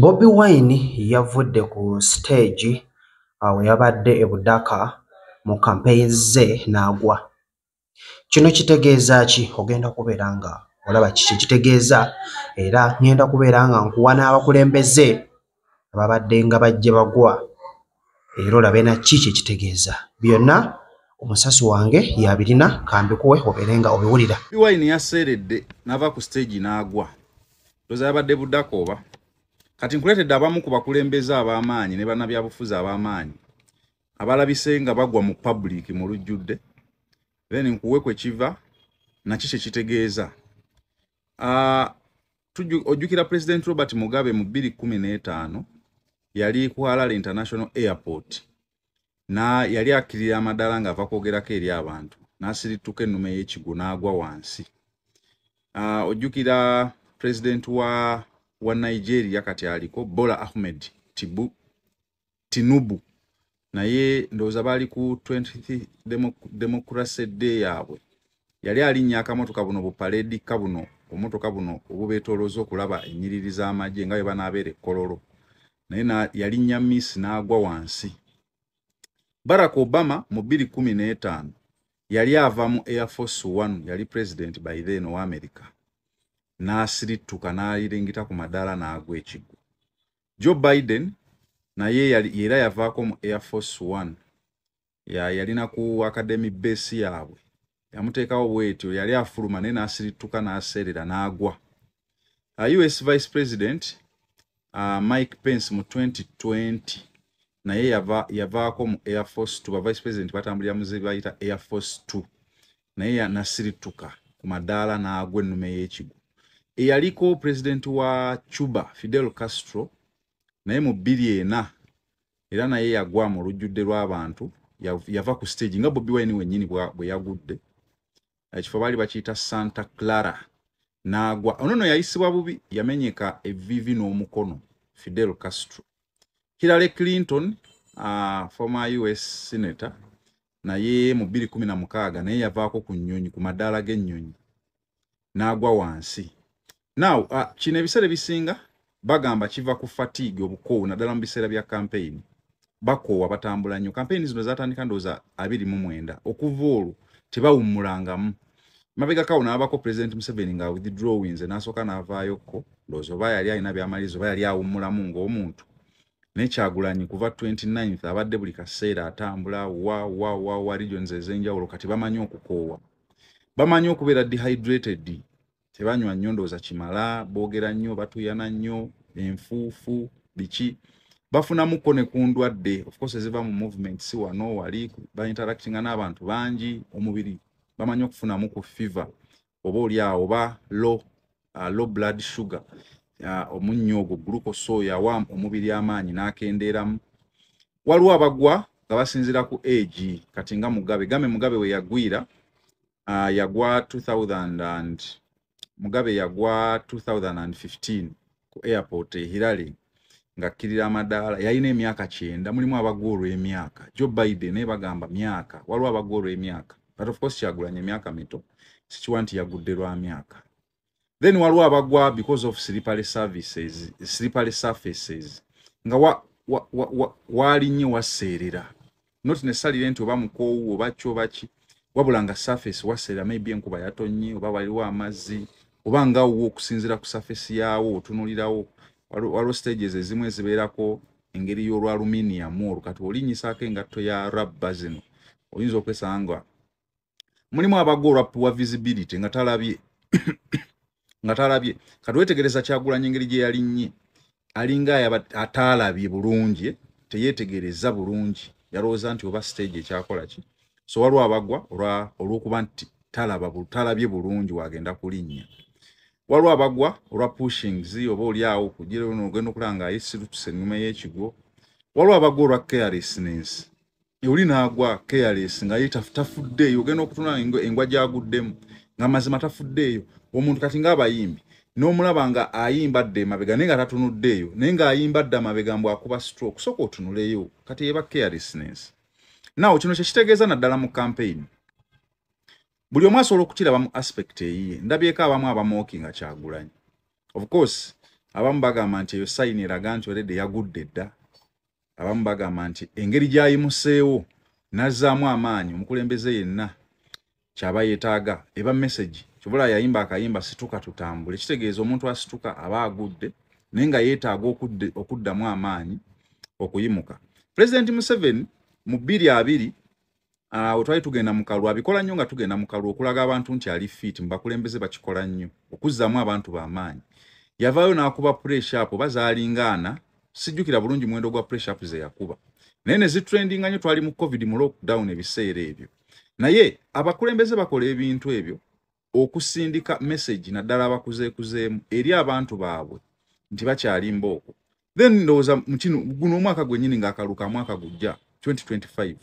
Bobi Wine yavudde ku siteegi awo yabadde e Budaka mu kampeyini ze n'agwa. Kino kitegeeza ki? Ogenda kubeera nga olaba kiki kitegeeza era ngenda kubeera nga nkuwa n'abakulembeze ababadde nga bajje bagwa era olabe na ki kyekitegeeza byonna omusasi wange yabirina kambikuwe obeere nga obiwulira biwayini yaseeredde nava ku siteegi n'agwa loza yabadde budako oba kati nkuleetedde abamu ku bakulembeze ab'amaanyi ne banabyabufuzi ab'amaanyi abalabise nga bagwa mu pabuliiki mu lujjudde then nkuwe kwe kiva naki kye kitegeeza Ah, ojjukira president robert mugabe mu 215 yali ku halal international airport na yali akirira amadala nga ava kwogerako eri abantu nasirituka ennume yekigu n'agwa wansi uh, ojjukira president wa wa nigeria kati aliko bola ahmed tibu tinubu naye ndowooza baali ku 20 democracy day yaabwe yali alinnya akamotoka buno bupaledika buno obumotoka buno obubeetoolooza okulaba ennyiriri z'amagye nga bwe banaabeera ekkololo naye yalinnya miss n'agwa wansi barack obama mu 215 yali ava mu air force one yali president by then owa america n'asirittuka n'ayiringita ku madaala n'agwa ekigwo joe biden naye era yavaako mu air force one yalina ku academy base yaabwe yamuteekawo bwetyo yali afuluma naye n'asirittuka n'aseerera n'agwa uh, us vice president uh, mike pence mu 2020 naye yavaako mu air force two ba vice president batambulira muzebayita air force two naye yanasirittuka ku madaala n'agwa ennume y'ekigu eyaliko pulezidenti wa cuba fidel castro naye mu bbiri ena era naye yagwa mu lujjudde lw'abantu yava ku stage nga bobi wine wenyini bwe yagudde ekifo baali bakiyita santa clara n'agwa ono no yayisibwa bubi yamenyeka evivi n'omukono fidel castro hillary clinton uh, former us senator naye mu bbiri kumi na mukaaga naye yavaako ku nnyonyi ku madaala g'ennyonyi n'agwa wansi now uh, kino ebiseera ebisinga bagamba kiva ku fatigue obukoowu naddala mu biseera bya kampeyini bakoowa batambula nnyo kampeyini zino zatandika ndowooza abiri mu mwenda okuva olwo tebawummulangamu mabega kawo n'abako pulezidenti museveni nga withdrawings n'asooka n'avaayokko ndowooza oba yali alina byamaliriza oba yali awummulamu ng'omuntu naye kyagulanyi kuva 29 abadde buli kaseera atambula wa wa wa wa regions ezenjawulo kati bamanyi okukoowa bamanyi okubeera dehydrated tebanywa nnyo ndowooza kimala boogera nnyo batuyana nnyo enfuufu biki bafunamukko ne ku ndwadde ofcourse eziva mu movement si wano wali bainteractinga n'abantu bangi omubiri bamanyi okufunamu ku fever oba oli awo oba low, uh, low blood sugar uh, omunnyo ogwo glucose oyo awa omubiri amaanyi n'akendeeramu waliwo abagwa nga basinziira ku agi kati nga mugabe game mugabe we yagwira uh, yagwa 2000 and mugabe yagwa 2015 ku airport ehirale ngakkirira amadaala yalina emyaka kyenda mulimu abagwa olw'emyaka jo biden naye bagamba myaka waliwo abagwa olw'emyaka but of course kyagulanya emyaka mito sikiwa nti yagudde lwa myaka then waliwo abagwa because of slippery services slippery surfaces nga waali wa, wa, wa, nnyo waseerera not necessarily nti oba mukoowu oba ki oba ki wabula nga surface waseera maybe enkuba yatonnye oba waliwo amazzi oba nga wo okusinziira ku surface yaawo otunulirawo waliwo stages ezimu ezibeerako engeri y'olwa aluminium olwo kati olinyisaako engatto ya rabba zino oyinza okwesanga nga mulimu abagwa olwa puwa visibility nga talabye nga talabye kati wetegereza kyagulanya engeri gye yalinnye alinga ataalabye bulungi eh? teyetegereza bulungi yalowooza nti oba stage ekyakola ki so waliwo abagwa olw'okuba nti talabye bulungi wagenda kulinnya waliwo abagwa olwa pushings oba oli awo kugira ono ogenda okulaba nga ayesirutuse ennuma y'ekigwo waliwo abagwa olwa carelessness oli naagwa careless nga ye tafuddeeyo ogenda okutunaa engwa gyaguddemu nga mazima tafuddeeyo omuntu kati ngaabayimbi n'omulaba nga ayimba dda emabega naye nga tatunuddeeyo naye ng'ayimba dda amabega mbu akuba stroke soka otunuleyo kati eba carelessness nawo kino kyekitegeeza naddala mu campaign buli omu asobola okukiraba mu aspect eyiye ndabyeko abamu abamooki nga kyagulanyi of course abamu bagamba nti eyo sayini eraga nti olede yagudde dda abamu bagamba nti engeri gyayimuseewo nazzaamu amaanyi omukulembeze yenna kyaba yetaaga eba message kibula yayimba akayimba situka tutambule kitegeeza omuntu asituka aba agudde naye nga yeetaaga okuddamu amaanyi okuyimuka pulezidenti museveni mu bbiri abiri awo ah, twali tugenda mukalwa abikola nnyo nga tugenda mukalwa okulaga abantu nti ali fit mubakulembeze bakikola nnyo okuzzamu abantu bamaanyi yavaayo n'akuba pressure apo oba zaalingaana sijjukira bulungi muwendo gwa pressure apo ze yakuba naye ne zitrendinga nnyo twali mu covid mu lockdown ebiseera ebyo naye abakulembeze bakola ebintu ebyo okusindika message naddala abakuzeekuzeemu eri abantu baabwe nti bakyali mbooko then ndowooza mukino guno omwaka gwenyini ngaakaluka mwaka gujja 2025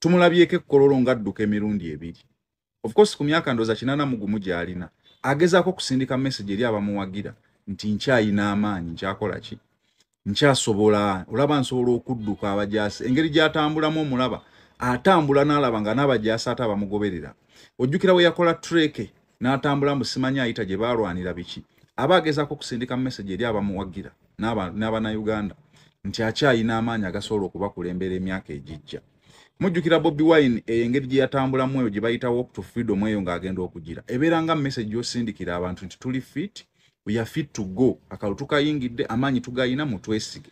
tumulabyeko ekkololo ngadduka emirundi ebiri of course ku myaka ndowooza kinana mugumu gyalina agezaako okusindika message eri abamuwagira nti nkyayina amaanyi nkyakola ki nkyasobola olaba nsobola okudduka abajaasi engeri gyatambulamu omulaba atambula n'alaba nga n'abajaasi ate abamugoberera ojjukira we yakola treke n'atambula mbu simanyi ayita gye baalwanira biki aba agezaako okusindika message eri abamuwagira n'abanauganda nti akyayina amaanyi agasobola okubakulembera emyaka egijja mujjukira bobi wine eyo engeri gye yatambulamu eyo gye bayita walk to freedom eyo ng'agenda okugira ebeera nga message yosindikira abantu nti tuli fiti we are fit to go akalo tukayingidde amaanyi tugayina mutwesige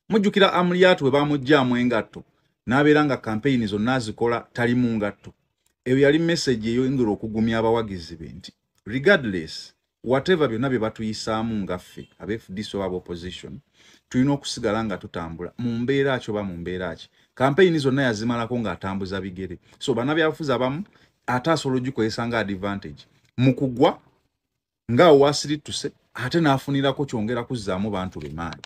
mujjukira amuliyatu we bamugyamu engatto n'abeera nga kampeyini zonna azikola tali mu ngatto eyo yali meseji eyoyingira okugumya abawagizi be nti regardless whatever byonna bye batuyisaamu ngaffe aba fdc oba abaopposition tulina okusigala nga tutambula mu mbeera ki oba mu mbeera ki kampeyini zonna yazimalako ng'atambuza bigere so banabyabufuzi abamu ate asobola ogikozesa nga advantage mu kugwa nga awasirittuse ate n'afunirako kyongera kuzzaamu bantu be maanyi